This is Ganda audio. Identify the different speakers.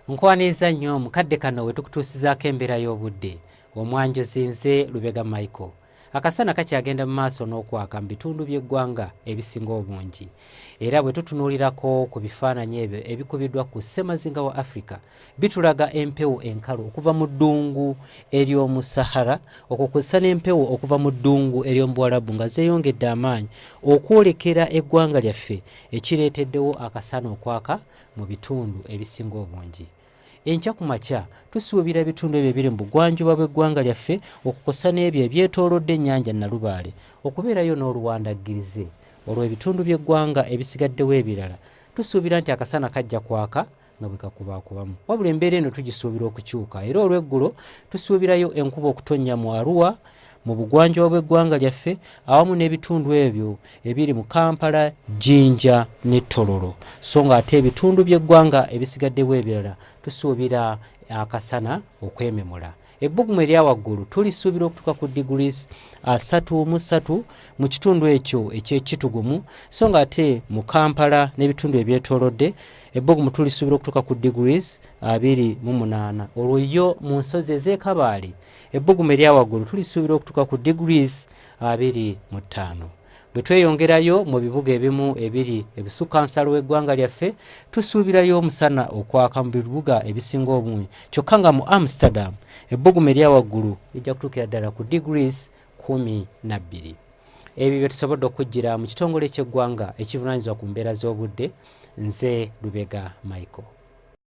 Speaker 1: nkwaniza nnyo mu kadde kano we tukutuusizaako embeera y'obudde omwanjuzi nze lubega michael akasana kakyagenda mu maaso n'okwaka mu bitundu by'eggwanga ebisinga obungi era bwe tutunuulirako ku bifaananyi ebyo ebikubiddwa ku ssemazinga wa africa bitulaga empewo enkalu okuva mu ddungu ery'omu sahara okukusa n'empewo okuva mu ddungu ery'omubuwalabu nga zeeyongedde amaanyi okwolekera eggwanga lyaffe ekireeteddewo akasana okwaka mu bitundu ebisinga obungi enkya ku makya tusuubira ebitundu ebyo ebiri mu bugwanjuba bw'eggwanga lyaffe okukosa n'ebyo ebyetoolodde ennyanja nnalubaale okubeerayo n'oluwandaggirize olwo ebitundu by'eggwanga ebisigaddewo ebirala tusuubira nti akasana kajja kwaka nga bwe kakubaakubamu wabula embeera eno tugisuubira okukyuka era olw'eggulo tusuubirayo enkuba okutonnya mu aruwa mu bugwanjuba bw'eggwanga lyaffe awamu n'ebitundu ebyo ebiri mu kampala jjinja ne tololo so ng'ate ebitundu by'eggwanga ebisigaddewo ebirala tusuubira akasana okwememula ebbugumu erya waggulu tulisuubira okutuuka ku degrees asatu mu ssatu mu kitundu ekyo ekyekitugumu so ng'ate mu kampala n'ebitundu ebyetoolodde ebbugumu tulisuubira okutuuka ku degrees abiri mu munaana olwo yo mu nsozi ez'ekabaale ebbugumu eryawaggulu tulisuubira okutuuka ku degrees abiri mu ttaano bwe tweyongerayo mu bibuga ebimu ebiri ebisukka nsalo w'eggwanga lyaffe tusuubirayo omusana okwaka mu bibuga ebisinga obungi kyokka nga mu amsterdam ebbugumu eryawaggulu lijja kutuukira ddala ku degrees kumi na bbiri ebyo bye tusobodde okujjira mu kitongole ky'eggwanga ekivunaanyizibwa ku mbeera z'obudde nze lubega michael